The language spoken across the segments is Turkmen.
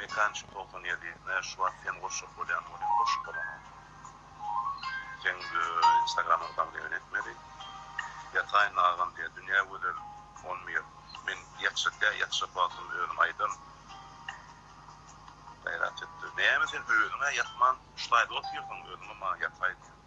Mekançy togsan ýedi ne şu wagt sen goşjak bolýan ol hem goşup bolanok seň instagramyňy damleýin etmeli ýataýyn agam diýä dünýä gözel on bir men ýatjak dä ýatjak wagtym özüm aýdaryn gaýrat et näme sen özüňä ýatman ştaýda otyrsyň özüňe maňa ýataý diýen.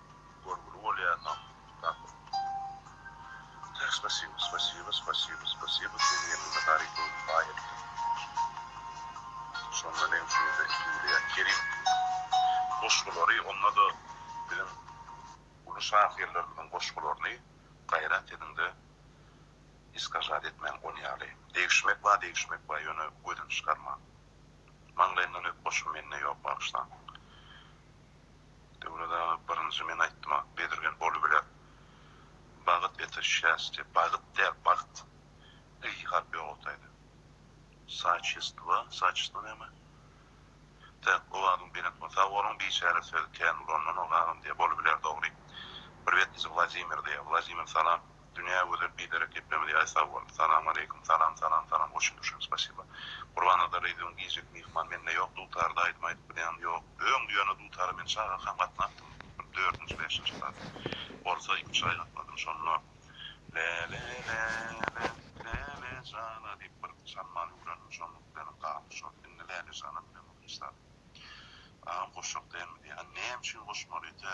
Görgüli bolýar nam dam. Tek spasiba spasiba spasiba spasiba sen ýeňňime garyp öwrüp baý etdiň. Şonda meň üçin-de iki uly kerim goşgulary onda-da biziň uly şahyrlarymyzyň goşgularyny gaýrat ediňde iskajat etmäň on ýaly. Degişmek ba degişmek ba ýöne gözüni çykarmaň. Maňlaýymdan öp goşgy mende ýok bagyşlaň. Döwlet aga birinji men aýtdyma bezirgen bolubiler. Bagyt ete şästie bagyt däl bagt y harpy ýogaltaýdy. Saçestwa saçestwa näme? Täk owazyň belent bolsun. Sag boluň biçäre söz kän ulanylanyok agam diýe bolubiler dogry. Bir betlisi Wladimir diýe. Wladimir salam. Dünýä gözel biderek geplemäni ýaý sag bol. Salam aleýkum salam salam salam hoşyn duşyn spasiba Gurbannazar Reýdüň giýjek myhman mende ýok dutarda aýdym aýdyp bilýäňmi ýok öň düýäne dutara men çagakam gatnapdym bir dördünji bäşinji klas bolsa iki üç aý gatnadym şonda Läle läle Läle jana diýip bir çalman öwrendim şonluk bilenem galdy şol indi Läle jana bilen bir hiç zat agam goşjak dälmi diýýä näme üçin goşmaly tä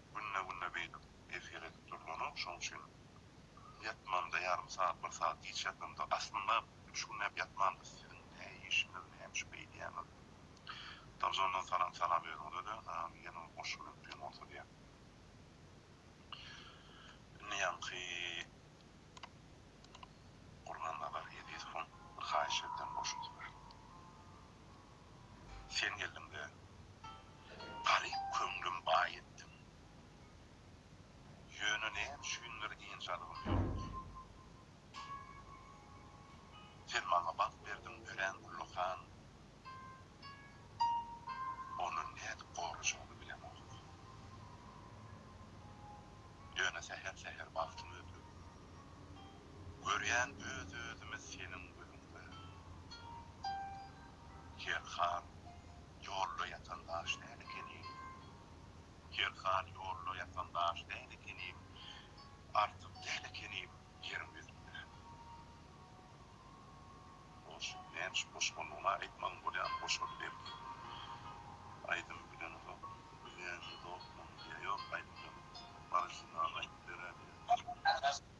Günde-günde beýdip efir edip durlanok, şoň üçin ýatmamda ýarym sagat, bir sagat giç ýatandyk. Aslynda üç günläp ýatmandys, siziň hä işiňiz hemişe beýdýäňiz. Trabzondan salam, salam özüňize-de, amin ýene bir goşgy bilen üpjün bolsa diýýän. Indi ýaňky Gurnanazar Ezizowyň bir haýyş edýän goşgusy bar. Sen geldiň we garyp köňlüm baý etdiň. Ýöne näme üçindir ynjalygym ýok. Sen maňa bagt berdiň örän ullakan. Ony nädip gorajagymy bilemok. Ýöne säher-säher bagtyň öldü. Görýän öz özümi seniň gözüňde. Her hal ýolda ýatan daş däl ekenim. Her hal ýolda ýatan daş däl ekenim. Artyk däl ekenim ýeriň ýüzünde. Hoş, näme şu goşgynyňa aýtmagyň bolýamy goşgudy belki. Aýdymy bileňizok. Bileňizokmy ýa ýok aýdymyňy orginal aýdyp beräýdiň.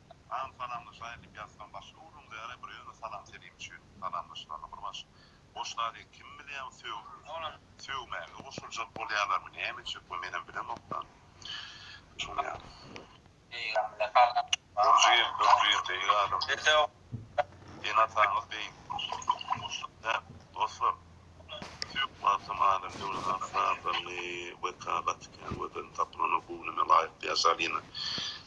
An salamlaşaýyn diýip ýazsam başga uruň dälä bir özüne salam selim üçin salamlaşylandyr bir baş boş zat eken kim bilýä bu sögüp sögmäge goşuljak bolýalarmy näme üçin bu menem bilemokda şuny Dürjil dürjil beýik adam ene ataňyz beýik dostlar sögüp atam adam göwni has sazlandy we kagat eken we ben tapylana bu gününe laýyk ýaşa alina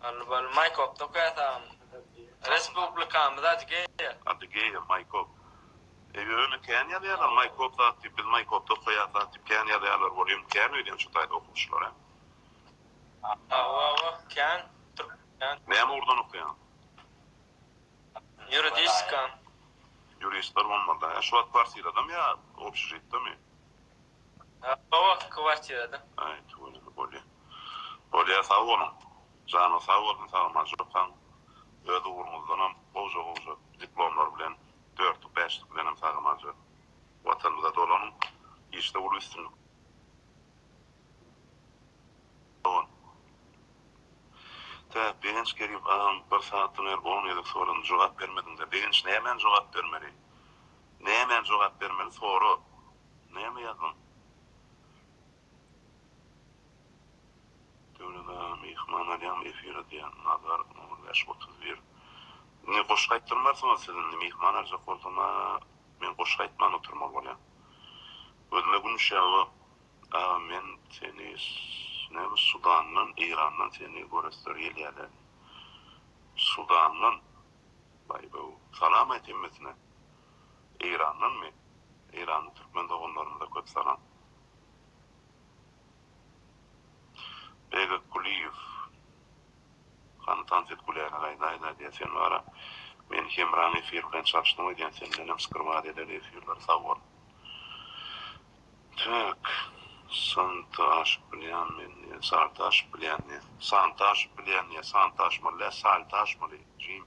Alli bally Maýkop tokaý sag Respublikamyz Adygeýa. Adygeýa Maýkop. Eý öýni kän ýazýalar Maýkop zat diýip biz Maýkopda okaýas zat diýip kän ýazýalar bolýum kän öýdýän şu taýda okuwçylar hä. Hawa hawa kän türkmen. Näme ugurdan okaýaň? Ýuridiska. Ýuristler bolmalyda hä şu wagt kwartiradamy ýa obşžitdami? Gabaw kwartirada. Aý tüweleme bolýa. Bolýa sag boluň. Janyň sag bolsun sagman çopan. Öz ugruňyzdanam gowja gowja diplomlar bilen dörtlük bäşlik bilenem sagamanja Watanymyza dolanyň. Işde uly üstünlik. Dogan. Tä Begenç Kerim agam bir sagatdan beri on gezek soradym jogap bermediňda Begenç nämäni jogap bermeli? Nämäni jogap bermeli sora. Näme ýazdyň? Döwlet aga myhman alýan efir edýän Nazar on bäş otuz bir Indi goşgy aýtdyrmarsyňyz siz indi myhman aljak bolsam a men goşgy aýtman oturmaly bolýan Gözüme gün düşýär o aga men seni näme Sudandan Eýrandan seni göresler gelýärler Sudandan Baý-baw Salam aýt hemmesine Eýrandanmy? Eýranly türkmen doganlarymyza köp salam. Begek Kuliýew, Hany tans et Gülälek aýda aýda diýýä sen wara. Meni Hemraň efir bilen çalyşdyň öýdýän sendenem skrwat eder efirleri sag bol. Tüwek, Santa aşyp bilýän men diýýä Salta aşyp bilýän diýýä Santa aşyp bilýän diýýä Santa aşmaly däl Salta aşmaly jigim.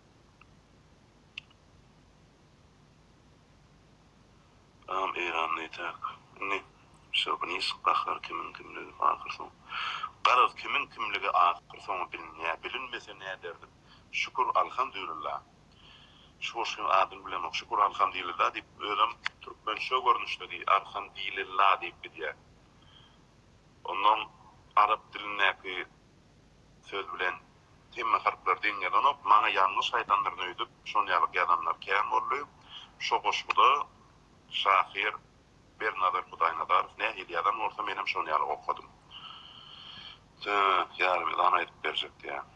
Agam Eýran nätäk indi şowiniz gahyr kimiň kimligi ahyr soň garyz kimiň kimligi ahyr soňy bilinýä bilinmese näderdim şükür alhamdulilla şu goşgyň adyny bilemok şükür alhamdylilla diýip özem türkmençe görnüşde diýip arhamdililla diýip gidýä ondan arap dilindäki Söz bilen, hemme harplar deň ýazanok, maňa ýalňyş aýdandyryn öýdüp, şon ýalyk ýazanlar kän boldy. Şo goşguda şahyr Bernazar Hudaýnazarow nähili ýazan bolsa, menem şon ýaly okadym. Söz, Ýarmezan aýdyp berjek diýýän.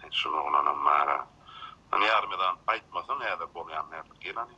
Hany, şul oglanam bar-a. Hany, Ýarmezan, aýtmasaň häzir bolýan nädip? Gel hany.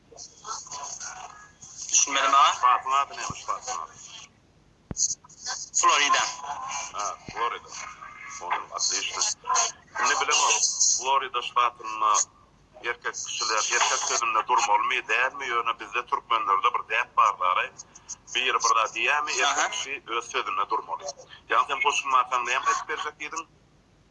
Düşünmedi maňa. Batyň ady nämiş batyň ady? Florida. Ha, Florida. Onam otlişno. Indi bilemok, Florida ştatynda erkek kişiler erkek sözünde durmalymy, dälmi, ýöne bizde türkmenlerde bir däp bar daraý, biri bir zat diýýämi, erkek kişi öz sözünde durmaly. Ýa sen goşulmasaň näme aýdyp berjek diýdiň?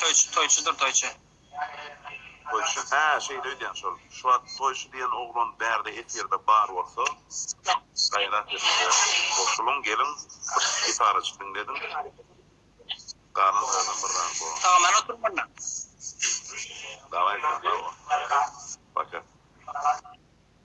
Toýçy toýçydyr toýçy. Toýçy hä şeýle öýdýän şol. Şuwagt toýçy diýen oglan bärde efirde bar bolsa gaýrat ediň goşulyň geliň bir gitarajyk diňlediň galan zadyň bir zady bor. Salamane türkmenler. Daway sen sag bol. Paka.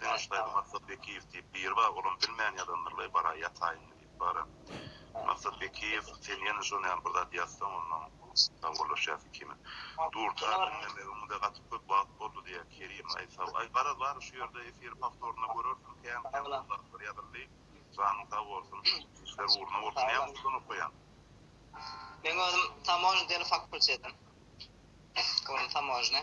Dönüş daýza Maksat Bekiýew diýip biri bar, olam bilmän ýalandyr-laý, baraý ýataýyn diýip bara. Maksat Bekiýew, sen ýene şo näme bir zat ýazsaň, onnoň sawgalaşýas ikimiz. Dur, tar diňlemegiň-de gaty köp wagt boldy, diýýär Kerim. Aý, sag, aý, garaz, bary şu ýerde efiri powtorynda görersiň, kän-kän gowy zatlar ýazyldy. Janyň sag bolsun. Işler ugruna bolsun. Näme usuldan okaýaň? Meň özüm tamožny telefakkultetim. Olam tamožny.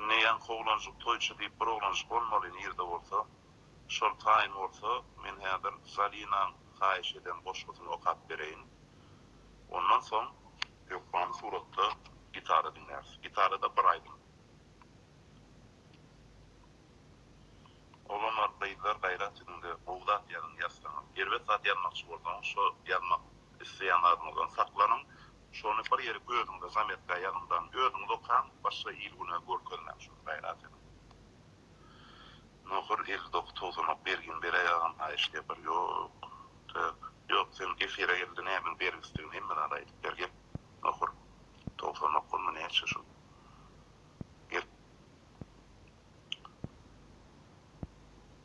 Indi ýaňky oglanjyk toýçy diýip bir oglanjyk bolmaly nirde bolsa. Şol taýyn bolsa men häzir Zalinaň haýyş eden goşgusyny okap bereýin. Ondan soň ýokman suratda gitara diňläris. Gitarada bir aýdym. Oglanlar gyzlar gaýrat ediňde gowy zat ýazyň ýazsaňyz. Erbet zat ýazmakçy bolsaňyz şo ýazmak isleýän zadyňyzdan saklanyň. Şony bir ýeri gözüňde zametkä ýazyndan özüňiz okaň başga il güne görkezmäň şony gaýrat ediň. Nohur il doky towsanok bergini beräý agam haýyş diýe bir ýok tak ýok sen efire gelde nämäň bergisdigini hemme zady aýdyp ber gel nohur towsanok bolma näçe şul gel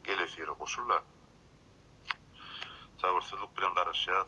gel efire goşul da sabyrsyzlyk bilen garaşýas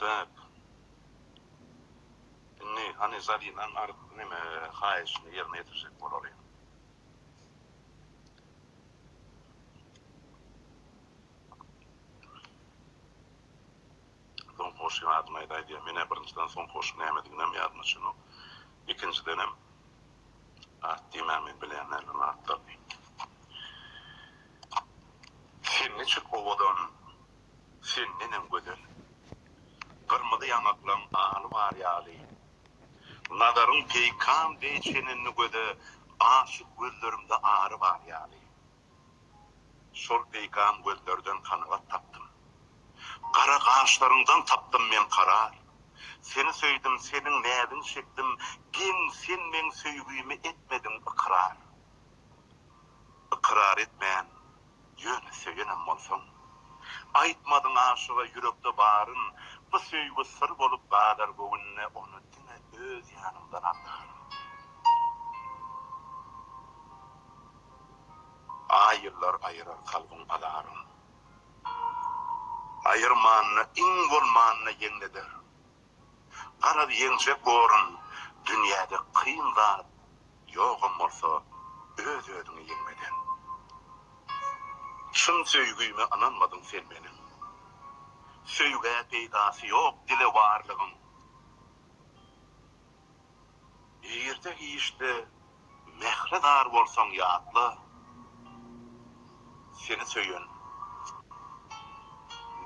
Dep. Indi, hany, Zalynaň ar, neme, haýyşyny ýerine ýetirjek bolalyň. Soňky goşgyň adyny aýdaý diýýän. Men-ä birinjiden soňky goşgyň nämediginem ýadyma çynok. Ikinjidenem, at diýmäň, men bilýän däl onuň atlaryny. Sen niçik owadan sendenem gözel. Gyrmyzy ýaňaklaň aly bar ýaly. Nazaryň peýkam deý çenenli göze Aşyk gözlerimde ary bar ýaly. Şol peýkam gözlerden kanagat tapdym. Gara gaşlaryňdan tapdym men karar. Seni söýdüm, seniň näziň çekdim, Geň sen meň söýgimi etmediň ykrar. Ykrar etmän, Ýöne söýenem bolsaň. Aýtmadyň aşyga ýürekde baryn, Bu söýgi syr bolup galar göwünde, Ony diňe öz ýanymdan aňaryn. Aý ýyllar aýyrar kalbyň azaryn, Aýyrmanda iň bolmanda ýeňleder. Garaz ýeňjek borun dünýäde kyn zat ýogam bolsa öz özüňi ýeňmeden. Çyn söýgime ynanmadyň sen meniň. Söýgä peýdasy ýok dile barlygyň. Ertir işde mähre zar bolsaň ýatla seni söýen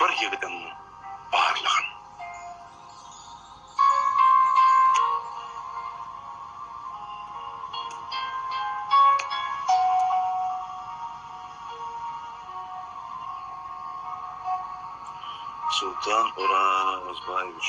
bir ýigidiň barlygyn. Soltan Orazbaýewiç.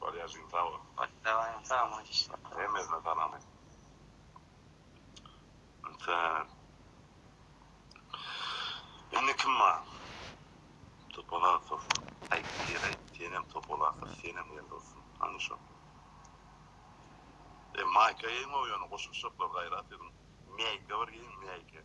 Barýa jigim sag bol. Başlagaýyň sag bol işiňe. Hemmesine salam aýt. Sen. Indi kim bar? Topalasow. Aýt diýer aýt. Senem topalasow senem gel dostum. Hany şo. E maýka geýmow ýöne goşulyşaklar gaýrat ediň. Mäýke bir geýiň mäýke.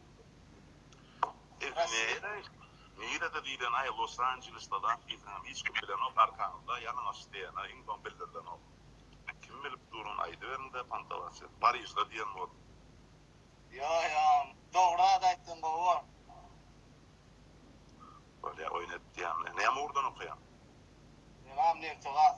Nere? Nirede diýlenaý Los Anjelesda zat diýseňem hiç kim bilenok arkaňyzda ýalyň aç diýenä iň soň bildirilenok. Kim bilip durun aýdyberiňdä pantalasýa. Parižda diýen bor. Ýo ýo dogry zat aýtdyň gowy. Bolýa oýun etýän. Näme ugurdan okaýaň? Meňem Neftegas.